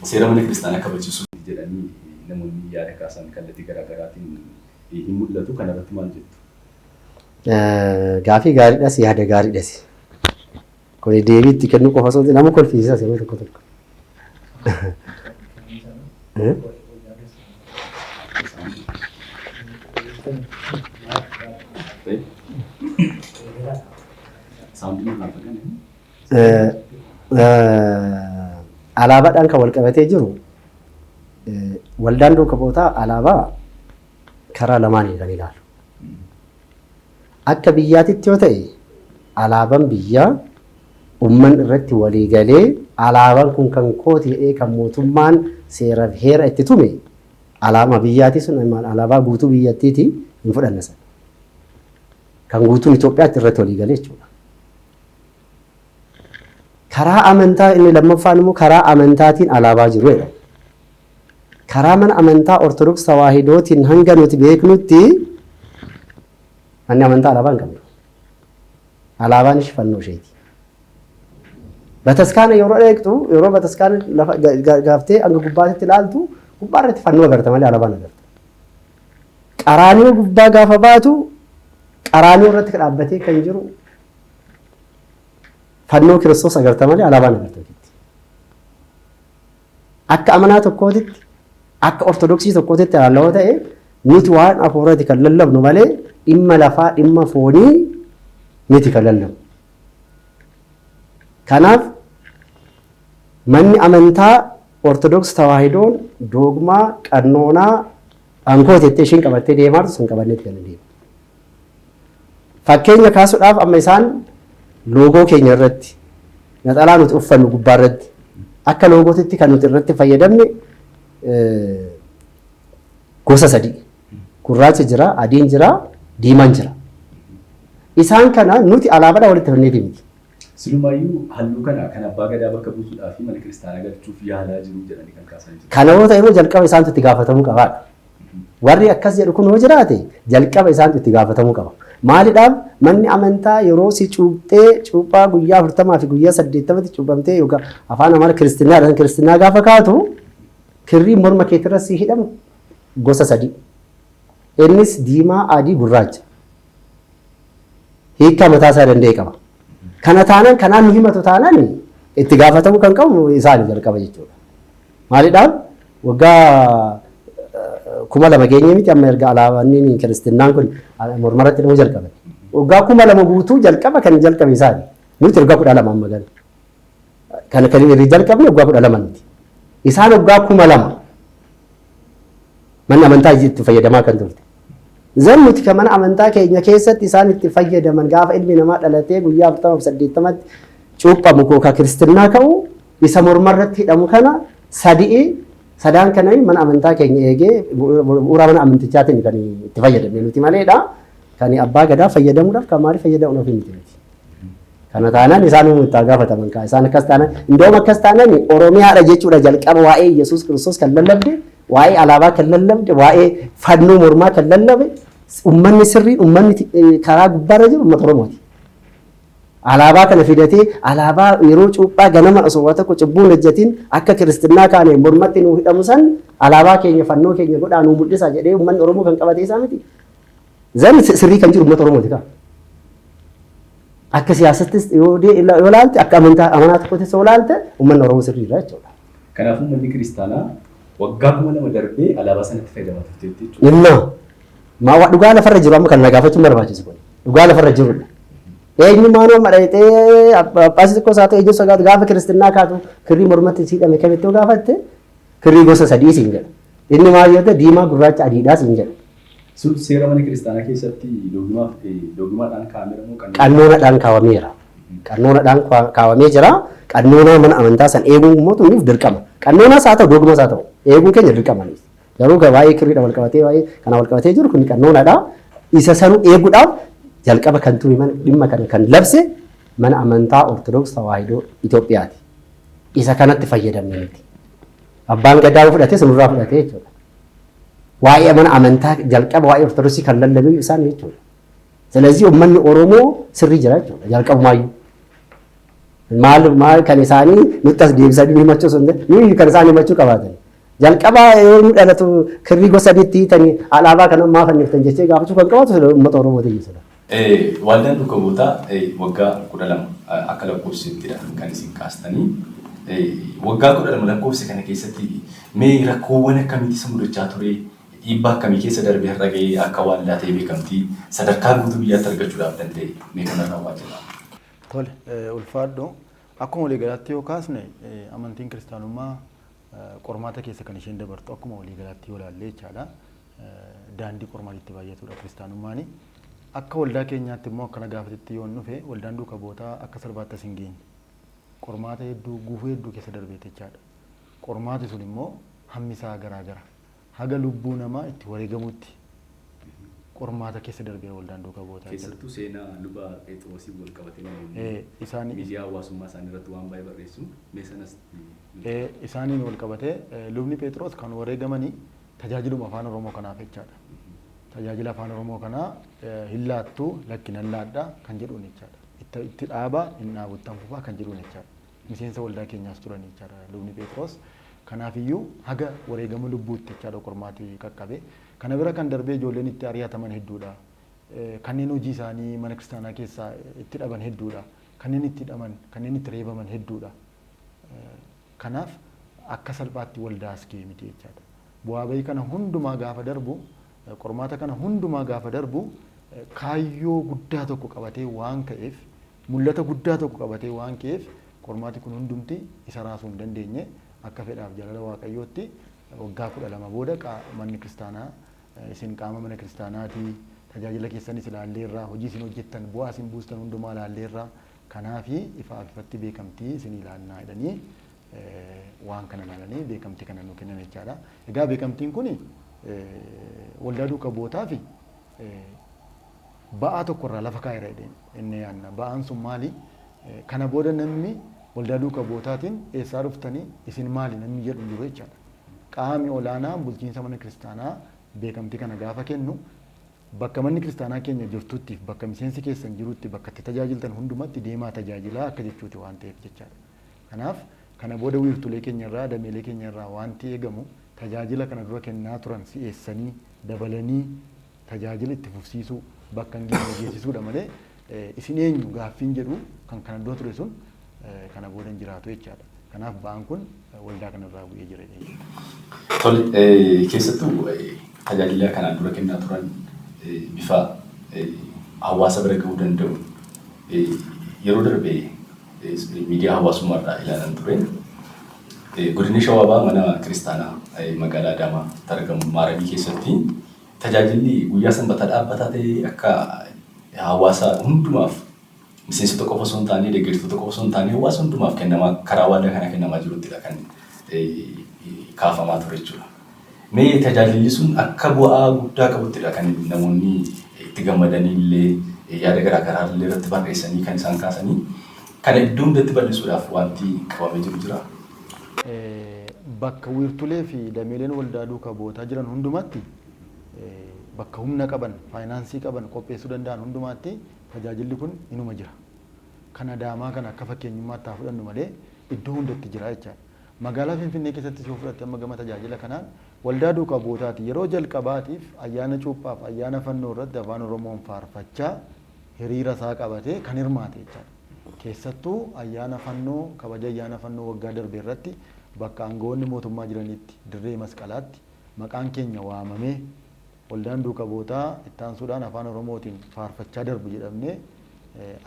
seera mana kiristaanaa kabachiisuu miti jedhanii namoonni yaada kaasan kallattii garaagaraatiin hin mul'atu. Kanarratti maal jettu? Gaafii gaariidhas yaada gaariidhas. Kuni deebii itti kennuu qofa osoo nama kolfiisisas yeroo tokko tokko. Alaabaadhaan kan wal qabatee jiru waldaan duuka bootaa alaabaa karaa lamaaniin kan ilaalu. Akka biyyaatitti yoo ta'e alaaban biyyaa umman irratti walii galee alaaban kun kan kooti jedhee kan mootummaan seeraf heera itti tume alaama biyyaati sun alaabaa guutuu biyyattiiti hin fudhanna sana. Kan guutuun Itoophiyaatti irratti walii galee jechuudha. Karaa amantaa inni lammaffaan immoo karaa amantaatiin alaabaa jiru jedhama. Karaa mana amantaa Ortodoks Tawaahidootiin hanga nuti beeknutti manni amantaa alaabaa hin qabdu. Alaabaan ishii fannoo isheeti. Bataskaana yeroo eegdu yeroo bataskaana lafa ga- ga- gaaftee hanga gubbaatti ilaaltu gubbaa irratti fannoo agarta malee alaabaan agarta. Qaraaniyoo gubbaa gaafa baatu qaraaniyoo irratti dhaabbatee kan jiru fannoo kiristoos agarta malee alaabaan agarta jechuudha. Akka amanaa tokkootitti, akka ortodoksii tokkootitti ilaalla yoo ta'e, nuti waan hafuuraati kan lallabnu malee dhimma lafaa, dhimma foonii miti kan lallabnu. Kanaaf manni amantaa ortodoks tawaahidoon doogmaa, qannoonaa, ankoo jettee ishiin qabattee deemaa jirtu sun qabannee itti kan deemu. Fakkeenya kaasudhaaf amma isaan loogoo keenya irratti naxalaa nuti uffannu gubbaa irratti akka loogootitti kan nuti irratti fayyadamne gosa sadii gurraacha jira, adiin jira, diimaan jira. Isaan kana nuti alaabaadhaan walitti fannee deemti. Silumaayyuu halluu kana kan Abbaa Gadaa bakka buusuudhaafi mana kiristaanaa galchuuf yaalaa jiru jedhanii kan kaasan jiru. Kana yoo ta'emmoo jalqaba isaantu itti gaafatamuu qabaadha. Warri akkas jedhu kun yoo jiraate jalqaba isaantu itti gaafatamuu qaba. Maalidhaaf manni amantaa yeroo si cuuphee cuuphaa guyyaa afurtamaa fi guyyaa saddeettamatti cuuphamtee yookaan afaan amara kiristinnaa kiristinnaa gaafa kaatu kirrii morma keetirra si hidhamu gosa sadii. Innis diimaa, adii, gurraacha. hiikkaa mataa isaa danda'e qaba. Kana taanaan kanaan nu himatu taanaan itti gaafatamuu kan qabu isaani jalqaba jechuudha. Maalidhaan waggaa eh, kuma lama geenye miti amma erga alaabanni kiristinnaan kun ala- mormaratti dhimuu jalqabe. Waggaa kuma lama guutuu jalqaba kan jalqabe isaani. Nuti waggaa kudha lama amma gana. Kan kan irri jalqabne waggaa kudha lama nuti. Isaan waggaa kuma lama manni amantaa itti fayyadamaa kan turte. Zan nuti kan mana amantaa keenya keessatti isaan itti fayyadaman gaafa ilmi namaa dhalatee guyyaa afurtama fi saddeettamatti cuuphamu koo kan kiristinnaa ka'u isa mormarratti hidhamu kana sadi'i sadaan kana mana amantaa keenya eegee bu'uura mana amantichaatiin kan itti fayyadamne nuti maleedha. Kan abbaa gadaa fayyadamuudhaaf kan maalii fayyadamuudhaaf hin jiru. Kana taanaan isaan uumuu itti haa gaafataman kaa isaan akkas taanaan indoom akkas taanaan Oromiyaadha jechuudha jalqaba waa'ee Yesuus Kiristoos kan lallabde waa'ee alaabaa kan lallabde waa'ee fannoo mormaa kan lallabe uummanni sirrii uummanni karaa gubbaarra jiru uummata Oromooti. Alaabaa kana fidatee alaabaa yeroo cuuphaa ganama osoo waa tokko cubbuun hojjetiin akka kiristinnaa kaaneen mormatti nuu hidhamu san alaabaa keenya fannoo keenya godhaa nuu mul'isa jedhee uummanni Oromoo kan qabatee isaa miti. Zari sirrii kan jiru uummata Oromooti kaa. Akka siyaasattis yoo ilaalte akka amantaa amanaa tokkottis yoo ilaalte uummanni Oromoo sirrii irraa jechuudha. Kanaafuu manni kiristaanaa waggaa kuma lama darbee alaabaa sanatti fayyadamaa turteetti jechuudha. Dhimma maa waa dhugaa lafarra jiru amma kan na gaafachuun barbaachisu kun dhugaa lafarra jirudha. Eenyummaan amma dhayitee abbaasii tokkos haa ta'e eenyuun sagaatu gaafa kiristinnaa kaatu kirrii mormatti siidhame kamitti yoo gaafatte kirrii gosa sadii siin jedha. Inni maal yoo ta'e diimaa gurraacha adiidhaa siin jedha. Sun seera mana kiristaanaa keessatti doogimaaf doogimaadhaan kaa'ameera moo qannoona? Qannoonadhaan kaa'ameera. Qannoonadhaan kaa'amee jira. Qannoonaa mana amantaa san eeguun immoo tunniif dirqama. Qannoonaas haa ta'u doogimaas haa ta'u eeguun keenya dirqama. Garuu waa'ee kirriidha wal qabatee waa'ee kana wal qabatee jiru kun qannoonaadha. Isa sanuu eeguudhaaf jalqaba kan ture mana dhimma kana kan labse mana amantaa Ortodoks Tawaahidoo Itoophiyaati. Isa kanatti fayyadamne miti. Abbaan gadaa fudhate sunirraa fudhate jechuudha. Waa'ee mana amantaa jalqaba waa'ee Ortodoksii kan lallaban isaan jechuudha. Silazii uummanni Oromoo sirrii jira jechuudha jalqabumaayyuu. Maal maal kan isaanii nutti as deebisanii himachuu sun nuyi kan isaan himachuu qabaatan. Jalqabaa yoo inni dhalatu kirrii gosa sadiitti hiitanii alaabaa kan ammaa fanniftan jechee gaafachuu kan qabaatu uummata Oromoo ta'e jechuudha. Waldaan Duuka Buutaa waggaa 12 akka lakkoofsisettidha kan isin kaastanii. Waggaa 12 lakkoofse kana keessatti mee rakkoowwan akkamiitu isa mudachaa ture? Dhiibbaa akkamii keessa darbee har'a ga'ee akka waaldaa ta'ee beekamtii sadarkaa guutuu biyyaatti argachuudhaaf danda'e? Mee kanarraa waa jedhaa. Tole, ulfaadhu. Akkuma waliigalaatti yoo kaasne amantiin kiristaanummaa qormaata keessa kan isheen dabartu akkuma waliigalaatti yoo ilaalle jechaadha. daandii qormaati itti baay'atuudha kiristaanummaani. Akka waldaa keenyaatti immoo akkana gaafatitti yoon dhufe waldaan duuka bootaa akka salbaatti as hin geenye. Qormaata hedduu guufuu hedduu keessa darbeetti jechaadha. Qormaati sun immoo hammi isaa garaa gara. Haga lubbuu namaa itti wareegamutti qormaata keessa darbeera waldaan duuka bootaa. Keessattuu seenaa luba Pheexiroosiin wal qabatee namoonni isaan miidiyaa hawaasummaa isaanii irratti waan baay'ee barreessu mee sanas isaaniin wal qabatee lubni Pheexiroos kan wareegamanii tajaajiluma Afaan Oromoo kanaaf jechaadha. Tajaajila Afaan Oromoo kanaa hin laattu lakki nan laadha kan jedhuun jechaadha. Itti itti dhaaba hin dhaabu itti hanfufaa kan jedhuun jechaadha. Miseensa waldaa keenyaas turan jechaadha lubni Pheexiroos. Kanaafiyyuu haga wareegama lubbuutti jechaadha qormaati qaqqabe. Kana bira kan darbee ijoolleen itti ari'ataman hedduudha. Kanneen hojii isaanii mana kiristaanaa keessaa itti dhaban hedduudha. Kanneen itti hidhaman, kanneen itti reebaman hedduudha. Kanaaf akka salphaatti waldaa as ga'e miti jechaadha. Bu'aa ba'ii kana hundumaa gaafa darbu, qormaata kana hundumaa gaafa darbu kaayyoo guddaa tokko qabatee waan ka'eef, mul'ata guddaa tokko qabatee waan ka'eef qormaati kun hundumti isa raasuu hin dandeenye. Akka fedhaaf jaalala Waaqayyootti waggaa kudha lama booda manni kiristaanaa isin qaama mana kiristaanaati, tajaajila keessanis ilaalleerra, hojii isin hojjettan, bu'aa isin buustan hundumaa ilaalleerra, Kanaafi ifaaf ifatti beekamtii isinii laannaa jedhanii waan kana laalanii beekamtii kana nuu kennan jechaadha. Egaa beekamtiin kuni waldaa duuka bu'ootaafi ba'aa tokko irraa lafa kaa'eera jedhee inni yaanna. Ba'aan sun maali? Kana booda namni waldaa duuka bu'ootaatiin eessaa dhuftanii isin maali namni jedhu hin jiru jechaadha. Qaami olaanaan bulchiinsa mana kiristaanaa beekamtii kana gaafa kennu Bakka manni kiristaanaa keenya jirtuttiif bakka miseensi keessan jirutti bakka itti tajaajiltan hundumatti deemaa tajaajilaa akka jechuuti waan ta'eef jechaadha. Kanaaf kana booda wiirtulee keenya irraa, dameelee keenya irraa waanti eegamu tajaajila kana dura kennaa turan si'eessanii, dabalanii tajaajila itti fufsiisuu, bakka hin geenye geessisuudha malee Isin eenyu gaaffiin jedhu kan kana dura ture sun kana booda hin jiraatu jechaadha. Kanaaf ba'aan kun waldaa kanarraa bu'ee jira jedhee yaada. Tole, keessattuu tajaajila kanaan dura kennaa turan bifa hawaasa bira ga'uu danda'uun yeroo darbe miidiyaa hawaasummaarraa ilaalan ture. Godina Shawaa Bahaa mana kiristaanaa magaalaa Adaamaatti argamu Maaragii keessatti Tajaajilli guyyaa sanbataa dhaabbataa ta'ee akka hawaasa hundumaaf miseensota qofa osoo hin taanee deggertoota qofa osoo hin taanee hawaasa hundumaaf kennamaa karaa waaldaa kanaa kennamaa jiruttidha kan kaafamaa ture jechuudha. Mee tajaajilli sun akka bu'aa guddaa qabuttidha kan namoonni itti gammadanii illee yaada garaa garaa illee irratti barreessanii kan isaan kaasanii kana iddoo hundatti bal'isuudhaaf wanti qabamee jiru jira. Bakka wiirtulee fi dameeleen waldaa duuka bu'ootaa jiran hundumaatti, bakka humna qaban, faayinaansii qaban, qopheessuu danda'an hundumaatti tajaajilli kun inuma jira. Kan Adaamaa kana akka fakkeenyummaatti haa fudhannu malee iddoo hundatti jira jechaadha. Magaalaa Finfinnee keessattis yoo fudhatte amma gama tajaajila kanaan waldaa duuka bu'ootaati yeroo jalqabaatiif ayyaana cuuphaaf ayyaana fannoo irratti Afaan Oromoon faarfachaa hiriira isaa qabatee kan hirmaate jechaadha. Keessattuu ayyaana Fannoo kabaja ayyaana Fannoo waggaa darbe irratti bakka aanga'oonni mootummaa jiranitti dirree Masqalaatti maqaan keenya waamamee waldaan duuka bu'ootaa ittaansuudhaan Afaan Oromootiin faarfachaa darbu jedhamnee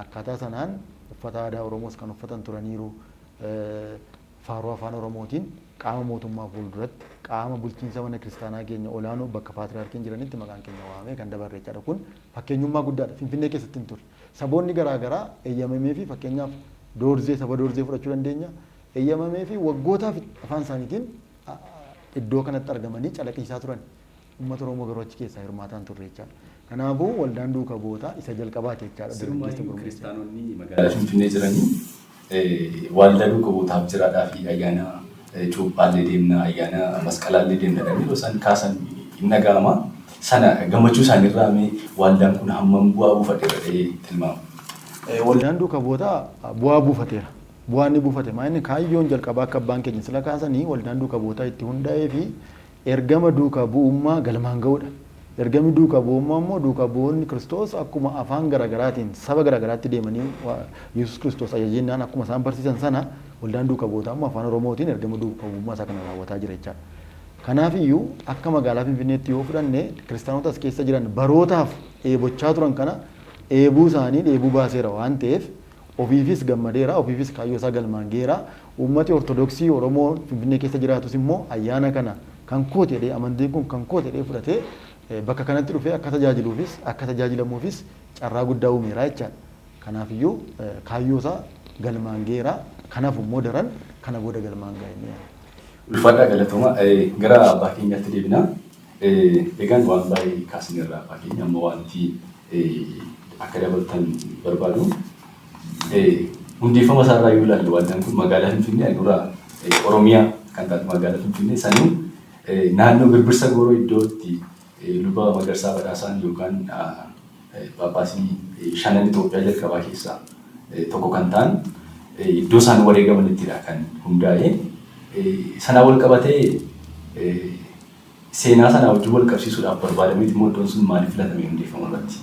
akkaataa sanaan uffata aadaa Oromoos kan uffatan turaniiru faaruu Afaan Oromootiin qaama mootummaa fuulduratti qaama bulchiinsa mana kiristaanaa keenya olaanoo bakka paatriyaarkiin jiranitti maqaan keenya waamamee kan dabarre jechaadha. Kun fakkeenyummaa guddaadha. Finfinnee keessatti hin turre. Saboonni garaa garaa eeyyamameefii fakkeenyaaf Doorzee saba Doorzee fudhachuu dandeenya eeyyamameefii waggootaaf afaan isaaniitiin iddoo kanatti argamanii calaqiisaa turan. Uummata Oromoo garuu achi keessaa hirmaataa hin turre jechaadha. Kanaafuu waldaan duuka bu'ootaa isa jalqabaati jechaadha dargaggeessa gurmeessuun. Sirumaayyu kiristaanonni magaalaa Finfinnee jiranii Waaldaa duuka buutaaf jiraadhaafi ayyaana cuuphaallee deemna, ayyaana masqalaallee deemna jedhanii yeroo isaan kaasan hin dhaga'ama. Sana gammachuu isaaniirraa mee waaldaan kun hammam bu'aa buufateera jedhee tilmaama? Waldaan duuka buotaa bu'aa buufateera. Bu'aa inni buufate maa inni kaayyoon jalqabaa akka abbaan keenya sila kaasanii waldaan duuka buotaa itti hunda'eefi Ergama duukaa bu'ummaa galmaan ga'uudha. Ergamni duukaa bu'ummaa immoo duukaa bu'oonni Kiristoos akkuma afaan gara garaatiin saba gara garaatti deemanii Yesuus Kiristoos ajajennaan akkuma isaan barsiisan sana waldaan duukaa bu'ootaa immoo afaan Oromootiin ergama duukaa bu'ummaa isaa kana raawwataa jira jechaadha. Kanaafiyyuu akka magaalaa Finfinneetti yoo fudhanne kiristaanota as keessa jiran barootaaf dheebochaa turan kana dheebuu isaanii dheebuu baaseera waan ta'eef ofiifis gammadeera ofiifis kaayyoo isaa galmaan ga'eera Uummati Ortodoksii Oromoo Finfinnee keessa jiraatus immoo ayyaana kana kan kooti jedhee, amantiin kun kan kooti jedhee fudhatee bakka kanatti dhufee akka tajaajiluufis akka tajaajilamuufis carraa guddaa uumeera jechaadha. Kanaafiyyuu kaayyoosaa galmaan gaheera. Kan hafu immoo daran kana booda galmaan gaha jennee yaanna. Ulfaadhaa galatooma. Gara abbaa keenyaatti deebina. Egaan waan baay'ee kaasneerra abbaa keenya. Amma waanti akka dabaltan barbaadu. Hundeeffama isaa irraa yoo ilaalle waldaan kun magaalaa Finfinnee handhuura Oromiyaa kan taate magaalaa Finfinnee saniin naannoo birbirsa gooroo iddoo itti luba Magarsaa Badhaasaan yookaan Phaaphaasii shanan Itoophiyaa jalqabaa keessaa tokko kan ta'an iddoo isaan wareegamanittidha kan hundaa'e. Sanaa wal qabatee Seenaa sanaa wajjin wal qabsiisuudhaaf barbaadameeti moo iddoon sun maaliif filatame hundeeffama irratti?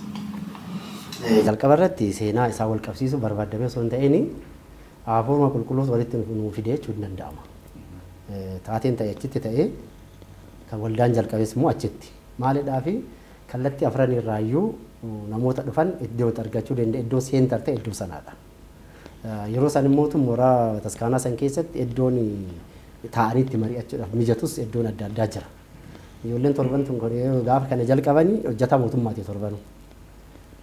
Jalqaba irratti seenaa isaa wal qabsiisuu barbaaddamee osoo hin ta'in Hafuuruma Qulqulluus walitti nuu fide jechuun ni danda'ama. Taateen ta'e achitti ta'ee kan waldaan jalqabes immoo achitti. Maalidhaafi kallattii afran irraa iyyuu namoota dhufan iddoo itti argachuu danda'e iddoo seentar ta'e iddoo sanaadha. Yeroo san immoo mooraa bataskaanaa san keessatti iddoon taa'anii itti mari'achuudhaaf mijatus iddoon adda addaa jira. Ijoolleen torban tun gaafa kana jalqabanii hojjetaa mootummaati torbanuu.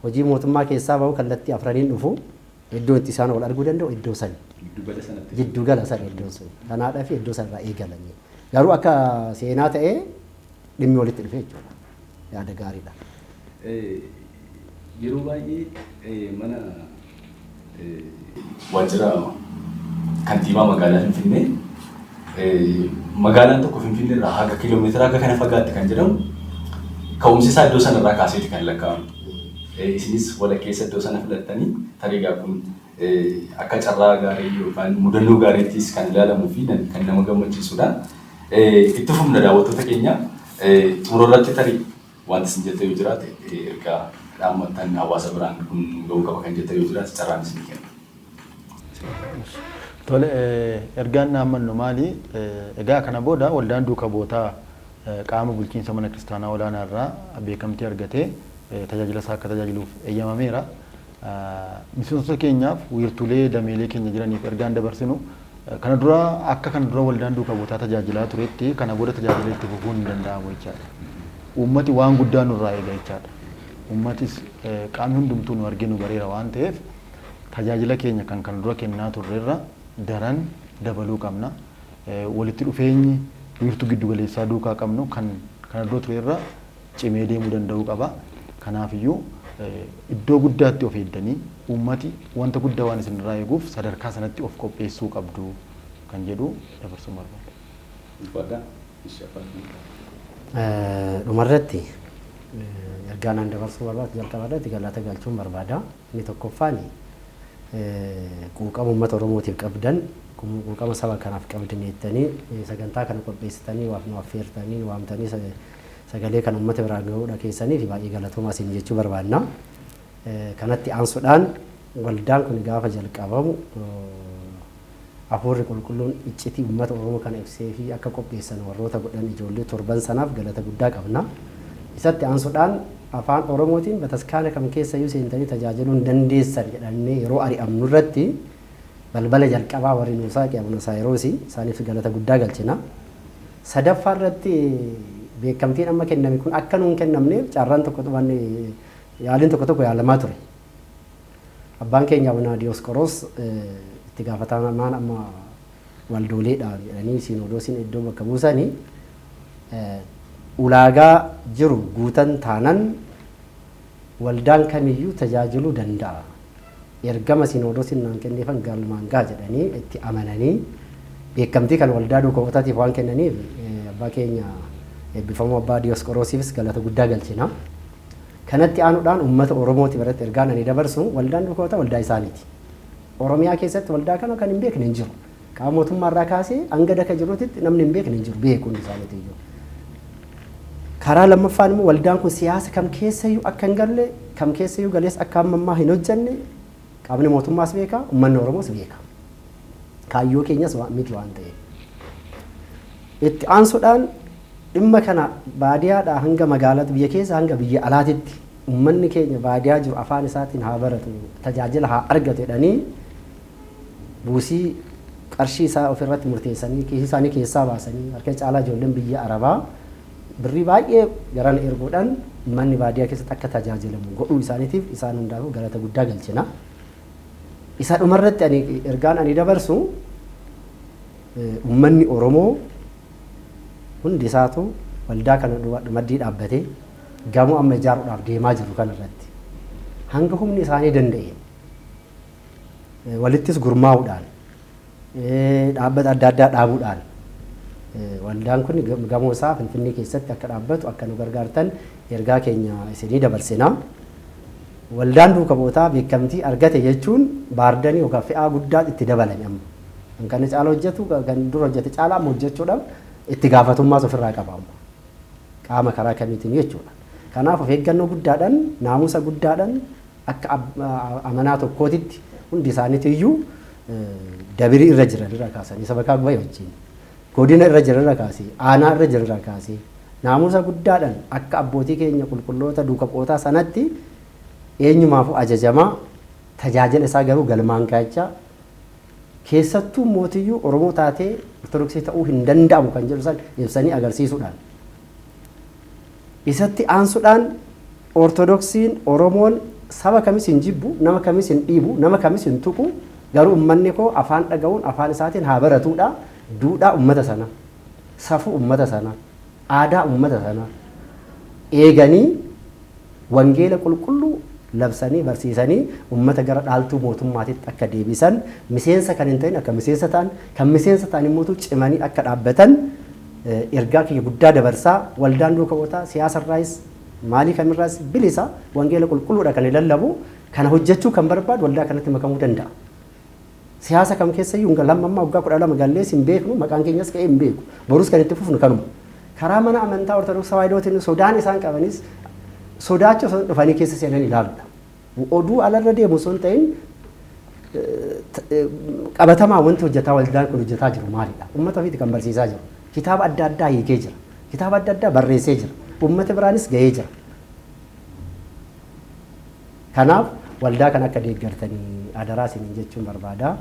Hojii mootummaa keessaa bahu kallattii afraniin dhufu iddoon itti isaan wal arguu danda'u iddoo sani. Giddugala sana iddoon sun. Kanaadhaaf iddoo sanarraa eegalanii. Garuu akka seenaa ta'ee dhimmi walitti dhufe jechuudha. Yaada gaariidha. Yeroo baay'ee mana waajjira kantiibaa magaalaa Finfinnee magaalaan tokko Finfinnee irraa haga kiiloomeetira haga kana fagaatte kan jedhamu ka'umsi isaa iddoo sanarraa kaaseeti kan lakkaa'amu. Isinis walakkeessa iddoo sana filattanii tarii kun Akka carraa gaarii yookaan mudannoo gaariittis kan ilaalamuu fi kan nama gammachiisudha. Itti fufna daawwattoota keenya. Xumura irratti tarii wanti isin jettan yoo jiraate ergaa dhaammattan hawaasa biraan kun nu ga'uu qaba kan jettan yoo jiraate carraan isinii kenna. Tole, ergaan dhaammannu maali? Egaa kana booda waldaan duuka bu'ootaa qaama bulchiinsa Mana Kiristaanaa Olaanaa irraa beekamtii argatee tajaajila isaa akka tajaajiluuf eeyyamameera. Miseensota keenyaaf wiirtuulee dameelee keenya jiraniif ergaan dabarsinu kana dura akka kana dura waldaan duuka buutaa tajaajilaa turetti kana booda tajaajila itti fufuun hin danda'amu jechaadha. Uummati waan guddaa nurraa eega jechaadha. Uummatis qaamni hundumtuu nu argee nu bareera waan ta'eef tajaajila keenya kan kana dura kennaa turrerra daran dabaluu qabna. Walitti dhufeenyi wiirtuu giddugaleessaa duukaa qabnu kan kana dura turerra cimee deemuu danda'uu qaba. Kanaafiyyuu iddoo guddaatti of eeddanii uummati wanta guddaa waan isinirraa eeguuf sadarkaa sanatti of qopheessuu qabdu kan jedhu dabarsuun barbaada. Ulfaadhaa. Ishi abbaa dhumarratti ergaa naan dabarsuu barbaadu jalqaba irratti galata galchuun barbaada. Inni tokkoffaan quuqama uummata Oromootiif qabdan, quuqama saba kanaaf qabdan jettanii sagantaa kana qopheessitanii waaf nu affeertanii nu waamtanii sagalee kana uummata biraan gahuudha keessaniif baay'ee galatoomaa isin jechuu barbaanna. Kanatti aansuudhaan waldaan kun gaafa jalqabamu Hafuurri Qulqulluun iccitii ummata Oromoo kana ibseefii akka qopheessan warroota godhan ijoollee torban sanaaf galata guddaa qabna. Isatti aansudhaan Afaan Oromootiin bataskaana kam keessayyuu seentanii tajaajiluu hin dandeessan jedhamnee yeroo ari'amnu irratti balbala jalqabaa warri nuu saaqe Abuna Saayiroosi. Isaaniifis galata guddaa galchina. Sadaffaa irratti beekamtiin amma kenname kun akka nuu hin kennamneef carraan tokko yaaliin tokko tokko yaalamaa ture. Abbaan keenya Abuna Diyoosqoroos itti gaafatamaan amma waldooleedha jedhanii siinoodoosin iddoo bakka buusani ulaagaa jiru guutan taanan waldaan kamiyyuu tajaajiluu danda'a. Ergama siinoodoosin naan kenneefan galmaan ga'a jedhanii itti amananii beekamtii kan waldaa duuka bu'ootaatiif waan kennaniif abbaa keenya eebbifamoo abbaa Diyoosqoroosiifis galata guddaa galchina. Kanatti aanuudhaan ummata Oromootii biratti ergaan ani dabarsu waldaan dhukoota waldaa isaaniiti. Oromiyaa keessatti waldaa kana kan hin beekne hin jiru. Qaama mootummaa irraa kaasee hanga daka jiruutitti namni hin beekne hin jiru beeku hundi isaaniitu iyyuu. Karaa lammaffaan immoo waldaan kun siyaasa kam keessayyuu akka hin galle kam keessayyuu galees akka amma ammaa hin hojjanne Qaamni mootummaas beeka, ummanni Oromoos beeka. Kaayyoo keenyas wa- miti waan ta'eef. Itti aansuudhaan dhimma kana baadiyaadhaa hanga magaalatti biyya keessa hanga biyya alaatitti ummanni keenya baadiyaa jiru afaan isaatiin haa baratu, tajaajila haa argatu jedhanii buusii qarshii isaa ofirratti murteessanii kiisii isaanii keessaa baasanii harka caalaa ijoolleen biyya Arabaa Birrii baay'ee garana erguudhaan ummanni baadiyaa keessatti akka tajaajilamu godhuu isaaniitiif isaan hundaafuu galata guddaa galchina. Isa dhumarratti ani ergaan ani dabarsu ummanni Oromoo hundi isaatu waldaa kana maddii dhaabbatee gamoo amma ijaaruudhaaf deemaa jiru kana irratti hanga humni isaanii danda'een walittis gurmaa'uudhaan Dhaabbata adda addaa dhaabuudhaan waldaan kun gamoo isaa Finfinnee keessatti akka dhaabbatu akka nu gargaartan ergaa keenya isinii dabarsina. Waldaan duuka bu'ootaa beekamtii argate jechuun baardanii yookaan fe'aa guddaa itti dabalame amma. Kan kana caala hojjetu kan dura hojjete caalaa amma hojjechuudhaaf itti gaafatummaas ofirraa qaba amma. Qaama karaa kamiitiin jechuudha. Kanaaf of eeggannoo guddaadhaan naamusa guddaadhaan Akka amanaa tokkootitti hundi isaaniitu iyyuu dabirii irra jiran irra kaasanii sabakaa gubaa'ee wajjin godina irra jiran irra kaasee aanaa irra jiran irra kaasee naamusa guddaadhaan akka abbootii keenya qulqulloota duuka bu'ootaa sanatti eenyumaafuu ajajamaa tajaajila isaa garuu galmaan gaachaa keessattuu mootiyyuu Oromoo taatee Ortodoksii ta'uu hin danda'amu kan jedhu san ibsanii agarsiisuudhaan Isatti aansudhaan Ortodoksiin, Oromoon saba kamis hin jibbu, nama kamis hin dhiibu, nama kamis hin tuqu, garuu ummanni koo afaan dhaga'uun afaan isaatiin haa baratuudha duudhaa ummata sanaa, safuu ummata sanaa, aadaa ummata sanaa eeganii wangeela qulqulluu labsanii barsiisanii ummata gara dhaaltuu mootummaatitti akka deebisan, miseensa kan hin ta'in akka miseensa ta'an, kan miseensa ta'an immootu cimanii akka dhaabbatan, ergaa kiyya guddaa dabarsaa waldaan duuka bu'otaa siyaasa irraayis maalii kamirraas bilisa wangeela qulqulluudha kan lallabu kana hojjechuu kan barbaadu waldaa kanatti makamuu danda'a. Siyaasa kam keessa iyyuu hin lamma ammaa waggaa kudha lama gallees hin beeknu maqaan keenyas ka'ee hin beeku borus kan itti fufnu kanuma. Karaa mana amantaa ortodoksii tawaahidootiin sodaan isaan qabanis sodaacha osoo dhufanii keessa seenan ilaaludha. Oduu alarra deemu osoo hin ta'in qabatamaa wanti hojjetaa waldaan kun hojjetaa jiru maalidha? Uummata ofiiti kan barsiisaa jiru. Kitaaba adda addaa hiikee jira. Kitaaba adda addaa barreessee jira. Uummata biraanis gahee jira. Kanaaf waldaa kan akka deeggartanii adaraa isiniin jechuun barbaada.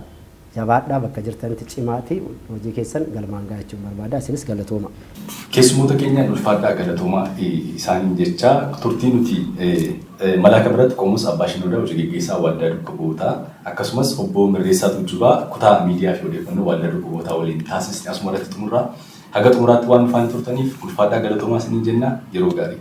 Jabaadhaa bakka jirtanitti cimaati hojii keessan galmaan ga'a jechuun barbaada. Isinis galatoomaa. Keessummoota keenyaan ulfaadhaa galatoomaa isaaniin jechaa turtii nuti Malaaka biratti Qoomoos Abbaa Shinoodaa Hoji Geggeessaa Waldaa Dukka Bu'ootaa akkasumas Obboo Mirreessaa Tuujjubaa Kutaa Miidiyaa fi Odeeffannoo Waldaa Dukka Bu'ootaa waliin taasisne asuma irratti xumurra. Haga xumuraatti waan nu faana turtaniif ulfaadhaa galatoomaa isiniin jenna. Yeroo gaarii.